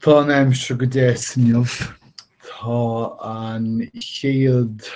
Tá an aimsir go deas inniu. Tá an chéad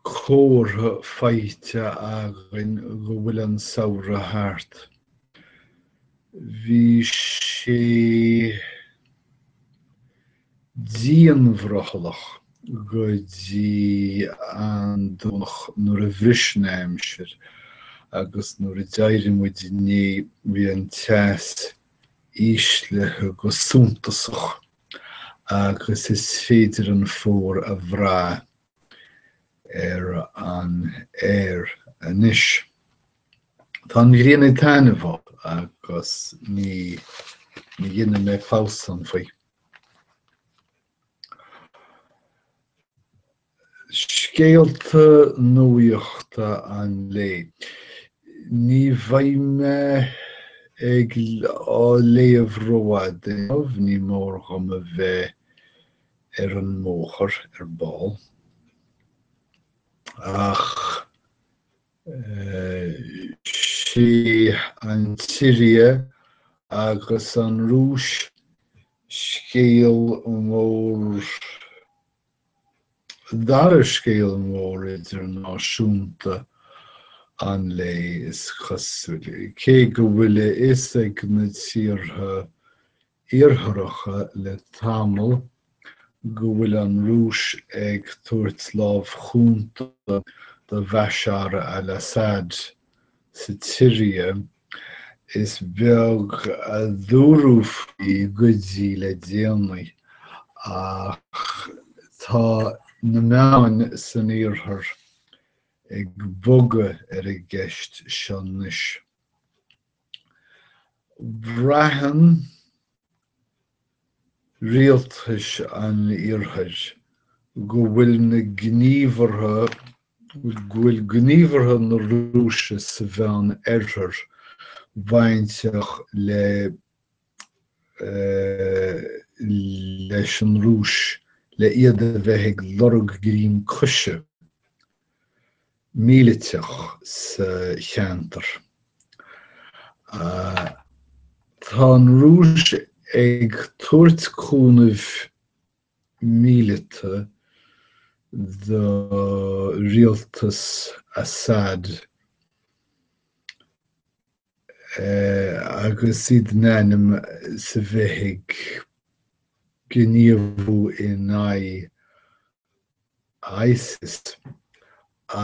comhartha faighte againn go bhfuil an samhradh thart. Bhí sé dianbhrothallach go dtí an Domhnach nuair a bhris an aimsir agus nuair a d'éirigh muid inné bhí an teas íslithe go suntasach agus is féidir an fómhar a bhrath ar an aer anois. Tá an ghrian ag taitneamh agus ní dhéanfaidh mé clamhsán faoi. Scéalta nuachta an lae. Ní bheidh mé ag á léamh rófhada inniu, ní mór dhom a bheith ar an mbóthar ar ball, ach, Is é an tSiria agus an Rúis scéal mór, dara scéal mór idirnáisiúnta an lae, is cosúil, cé go bhfuil a fhios ag na tíortha Iartharacha le tamall, go bhfuil an Rúis ag tabhairt lámh chúnta do Bhashar al-Assad sa tSiria, is beag a dúradh faoi go dtí le déanaí, ach tá na meáin san Iarthar ag bogadh ar an gceist seo anois. Braitheann rialtais an Iarthair go bhfuil na gníomhartha go bhfuil gníomhartha na Rúise sa Mheánoirthear bainteach le leis an Rúis le iad a bheith ag lorg greim coise míleatach sa cheantar. Tá an Rúis ag tabhairt cúnamh míleata do rialtas Assad agus iad in ainm is a bheith ag gníomhú in aghaidh ISIS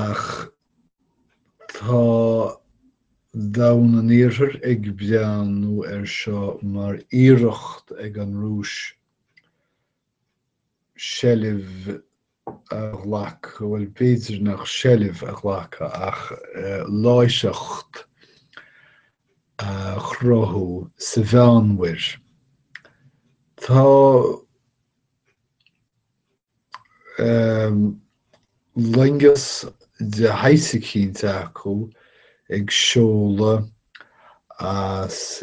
ach tá domhan an iarthair ag breathnú ar seo mar iarracht ag an Rúis seilbh a ghlacadh bhuel b'fhéidir nach seilbh a ghlacadh ach láithreacht a chruthú sa Mheánmhuir. Tá loingeas de shaghas eicínt acu ag seoladh as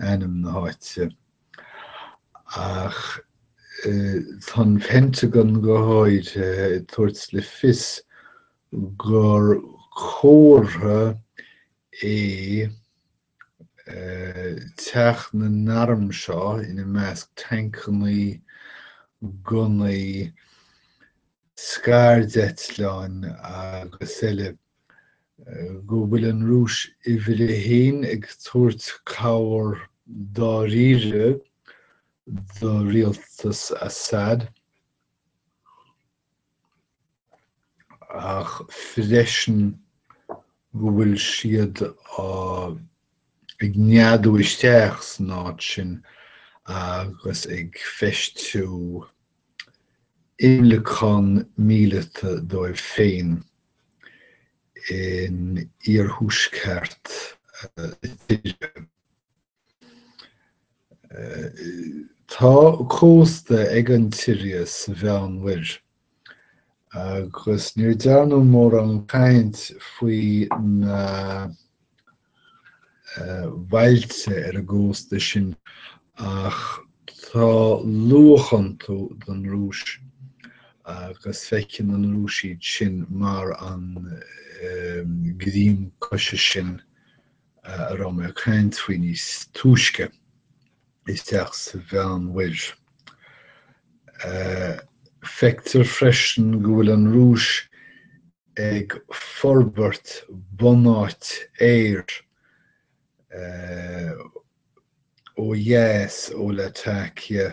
ainm na háite, ach tá an Pentagon go háirithe ag tabhairt le fios gur comhartha é teacht na n-arm seo, ina measc tancannaí, gunnaí, scairdeitleáin agus eile, go bhfuil an Rúis uimhir a haon ag tabhairt cabhair dáiríre do rialtas Assad ach freisin go bhfuil siad ag neadú isteach san áit sin agus ag feistiú imleacán míleata dóibh féin in iarthuaisceart na tíre. Tá cósta ag an tSiria sa Mheánmhuir agus níor dearnadh mórán caint faoi na bailte ar an gcósta sin ach tá luach iontu don Rúis agus feiceann an Rúis iad sin mar an greim coise sin a raibh mé ag caint faoi níos túisce. isteach sa Mheánmhuir. Feictear freisin go bhfuil an Rúis ag forbairt bunáit aeir ó dheas ó Latakia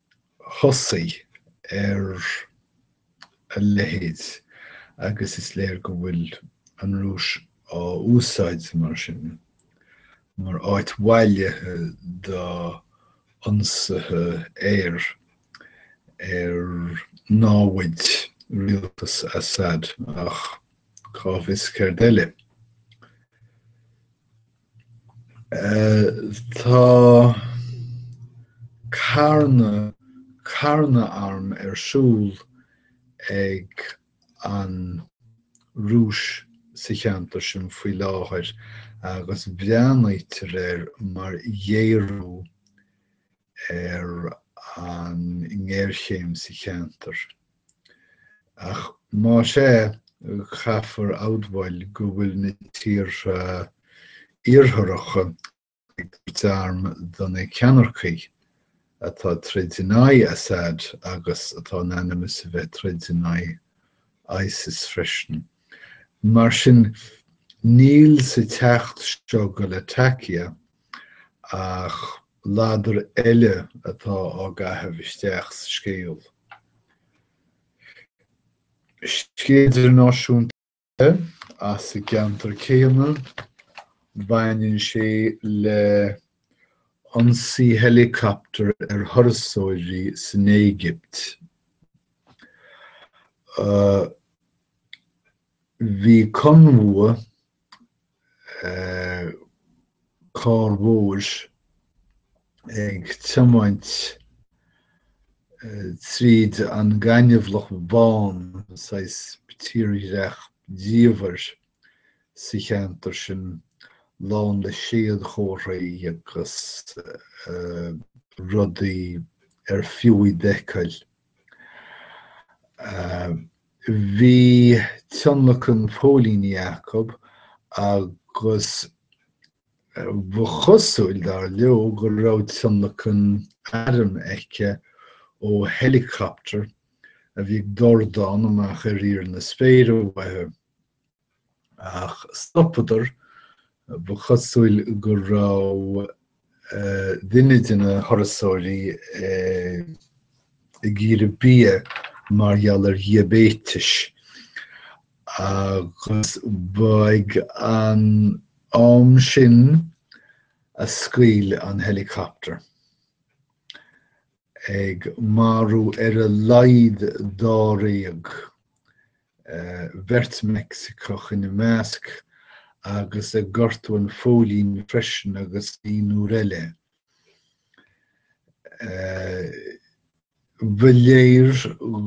thosaigh ar a leithéid agus is léir go bhfuil an Rúis á úsáid mar sin mar áit bhailithe d'ionsaithe aeir ar naimhde rialtas Assad ach cá bhfios céard eile. Tá carnadh carnadh arm ar siúl ag an Rúis sa cheantar sin faoi láthair agus breathnaítear air mar ghéarú ar an ngéarchéim sa cheantar. Ach más ea, caithfear a admháil go bhfuil na tíortha Iartharacha ag tabhairt arm do na ceannaircigh atá ag troid in aghaidh Assad agus atá in ainm is a bheith ag troid in aghaidh Isis freisin. Mar sin, níl sa teacht seo go Latakia Ach ladar eile atá á chaitheamh isteach sa scéal. Scéal idirnáisiúnta eile as an gceantar céanna, a bhaineann sé le ionsaí helicopter ar thurasóirí san Éigipt. Bhí conbhua de charranna móra ag tiomáint tríd an ngaineamhlach bán, saghas tírdhreach diamhair sa cheantar sin lán le séadchomharthaí agus rudaí ar fiú iad a fheiceáil. Bhí tionlacan póilíní acu agus ba chosúil, dar leo, go raibh tionlacan airm acu ó heileacaptar a bhí ag dordán amach ar íor na spéire uathu. ach stopadar, ba chosúil go raibh duine de na turasóirí ag iarraidh bia mar gheall ar dhiaibéiteas agus ba ag an am sin a scaoil an helicopter. ag marú ar a laghad dáréag, beirt Mheicsiceach ina measc, agus ag gortú an phóilín freisin agus naonúr eile. Ba léir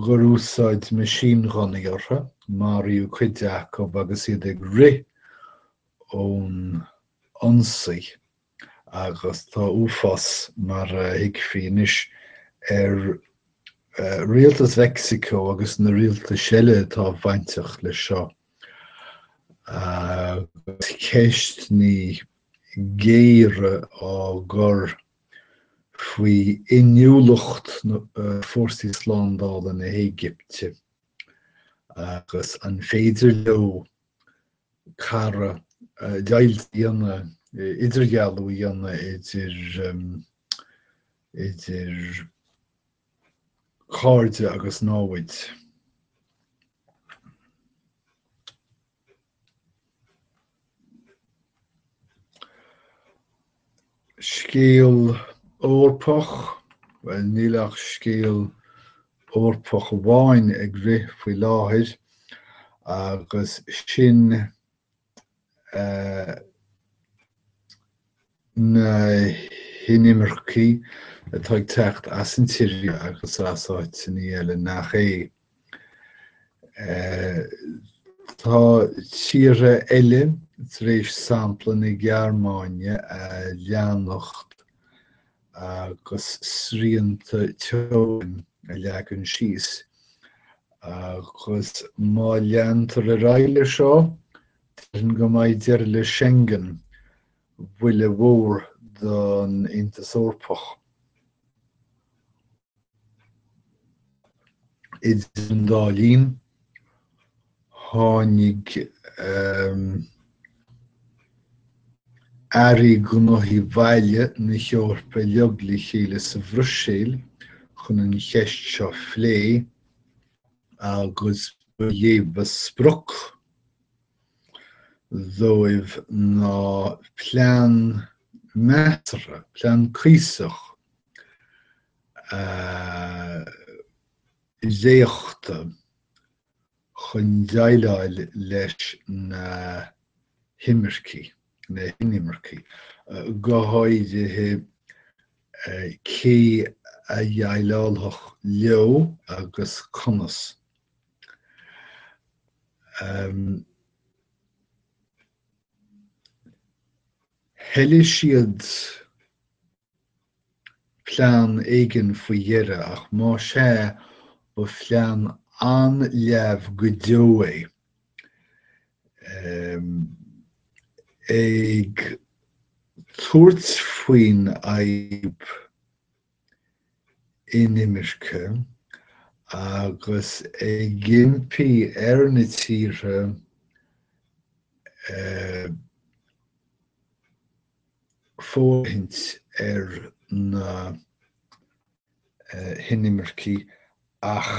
gur úsáideadh meaisínghunnaí orthu, maraíodh cuid acu agus iad ag rith ón ionsaí. agus tá uafás, mar a thuigfí anois, ar Rialtas Mheicsiceo agus na rialtais eile atá bainteach leis seo, agus ceisteanna géara á gcur faoi inniúlacht fórsaí slándála na hÉigipte agus an féidir leo cara, deighilt a dhéanamh, idirdhealú a dhéanamh idir, idir cairde agus námhaid. Scéal Eorpach? Bhuel, níl ach scéal Eorpach amháin ag rith faoi láthair agus sin é na hinimircigh atá ag teacht as an tSiria agus as áiteanna eile nach é. Tá tíortha eile tar éis sampla na Gearmáine a leanacht agus srianta teorann a leagan síos agus má leantar ar aghaidh leis seo, déarfainn go mbeidh deireadh le Schengen, buille mhór don Aontas Eorpach. Idir an dá linn, tháinig airí gnóthaí baile na hEorpa le chéile sa Bhruiséil chun an cheist seo a phlé agus ba é ba sprioc dóibh ná plean measartha, plean cuíosach éifeachtach chun déileáil leis na himircigh, na hinimircigh, go háirithe cé a dhéileálfadh leo agus conas. Thoiligh siad plean éigin faoi dheireadh, ach más ea, ba phlean an-leamh go deo é, ag tabhairt faoin fhadhb inimirce agus ag impí ar na tíortha fóirithint ar na hinimircigh ach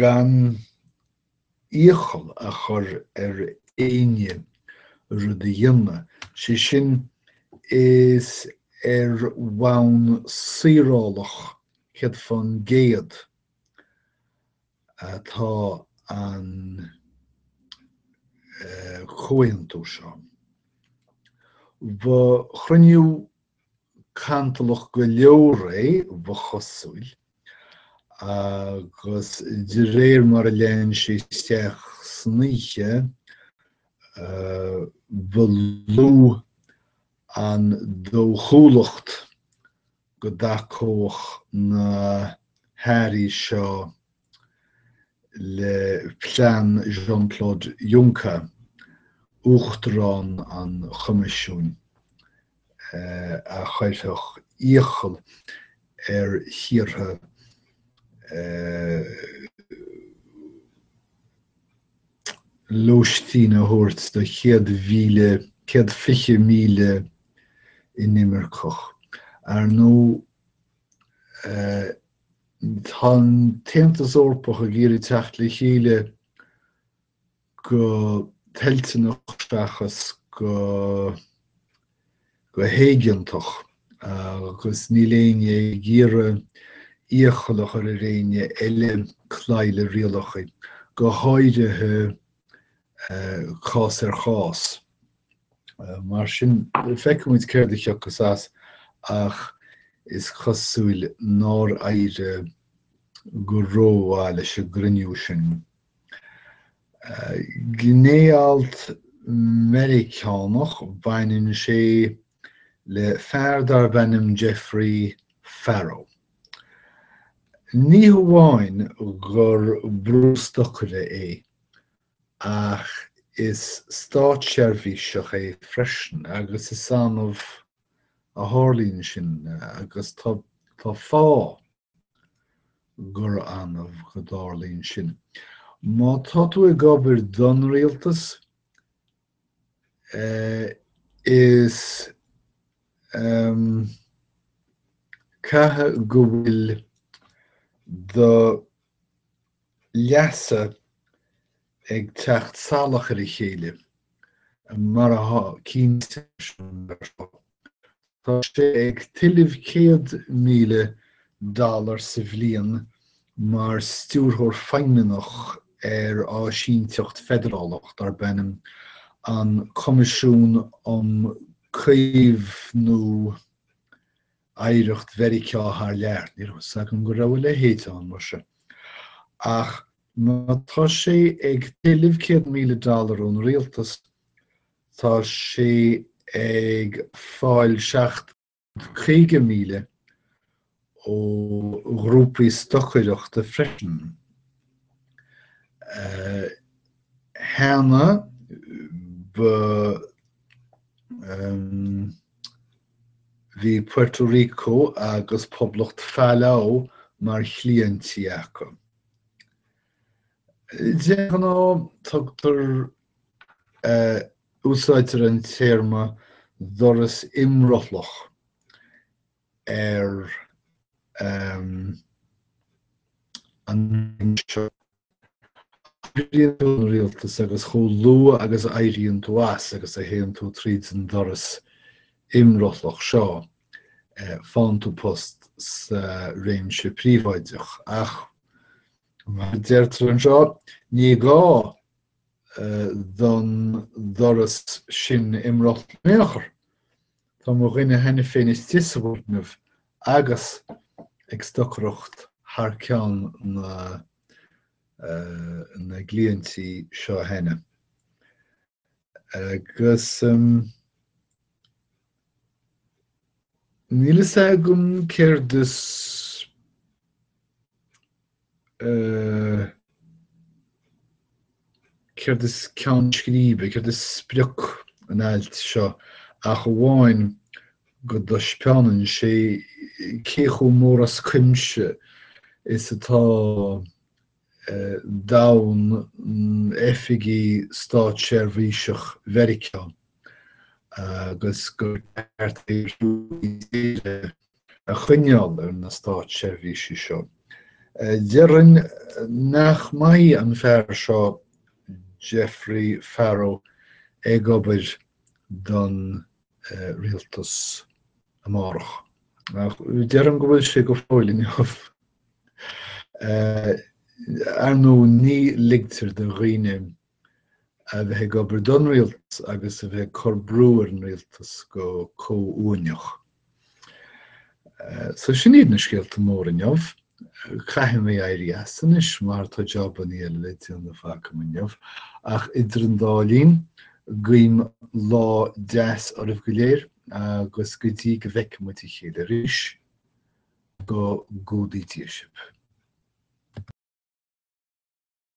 gan iachall a chur ar éinne rud a dhéanamh, sé sin, is ar bhonn saorálach céad faoin gcéad atá an comhaontú seo. Ba chruinniú cantalach go leor é, ba chosúil, agus de réir mar a lean sé isteach san oíche, ba lú an dóchúlacht go dtacódh na hAirí seo le plean Jean-Claude Juncker, Uachtarán an Choimisiúin, a chuirfeadh iachall ar thíortha lóistín a thabhairt do chéad mhíle, céad fiche míle inimirceach. Ar ndóigh, tá an tAontas Eorpach ag iarraidh teacht le chéile go toilteanach seachas go. go héigeantach agus níl éinne ag iarraidh iachall a chur ar éinne eile cloí le rialacha, go háirithe cás ar chás. Mar sin, feicfidh muid céard a thiocfas as ach is cosúil nár éirigh go rómhaith leis an gcruinniú sin. Gné-alt Meiriceánach, baineann sé le fear darb ainm Jeffrey Farrow. Ní hamháin gur brústocaí é, ach is státseirbhíseach é freisin, agus is annamh a tharlaíonn sin, agus tá fáth gura annamh go dtarlaíonn sin. Má tá tú ag obair don rialtas, is ceadaithe go bhfuil do leasa ag teacht salach ar a chéile, mar atá cinnte leis an mBille seo. Tá sé ag tuilleamh 100,000 dollar sa bhliain mar stiúrthóir feidhmeannach ar áisínteacht feidearálach darb ainm an Coimisiún um Caomhnú Oidhreacht Mheiriceá Thar Lear. Ní raibh fhios agam go raibh a leithéid ann, mar sé. Ach má tá sé ag tuilleamh 100,000 dollar ón rialtas, Tá sé ag fáil seacht gcéad caoga míle ó ghrúpaí stocaireachta freisin. Cheana féin bhí Puerto Rico agus Poblacht Phalau mar chliaintí acu. De ghnáth tugtar Úsáidtear an téarma 'doras imrothlach' ar an méid seo. Oibríonn tú don rialtas agus chomh luath agus a éiríonn tú as agus a théann tú tríd an doras imrothlach seo, faigheann tú post sa réimse príobháideach. Ach, mar a deirtear anseo, ní gá don doras sin imrothlú in aon chor. Tá mo dhuine cheana féin istigh sa bhfoirgneamh agus ag stocaireacht thar ceann na na gcliaintí seo cheana. Agus níl a fhios agam céard is eh céard is ceann scríbe, céard is sprioc an ailt seo ach amháin go dtaispeánann sé cé chomh mór as cuimse is atá domhan oifigí státseirbhíseach Mheiriceá agus gur ceart é a threorú i dtíortha a choinneáil ar na státseirbhísigh seo. Déarfainn nach mbeidh an fear seo, Jeffrey Farrow, ag obair don Rialtas amárach ach deirim go bhfuil sé go fóill inniu ar ndóigh ní ligtear do dhaoine a bheith ag obair don Rialtas agus a bheith ag cur brú ar an Rialtas go comhuaineach. So sin iad na scéalta mór inniu. Caithfidh mé éirí as anois mar tá jabanna eile le déanamh agam inniu ach idir an dá linn, guím lá deas oraibh go léir agus go dtí go bhfeicfidh muid a chéile arís, go gcumhdaí Dia sibh.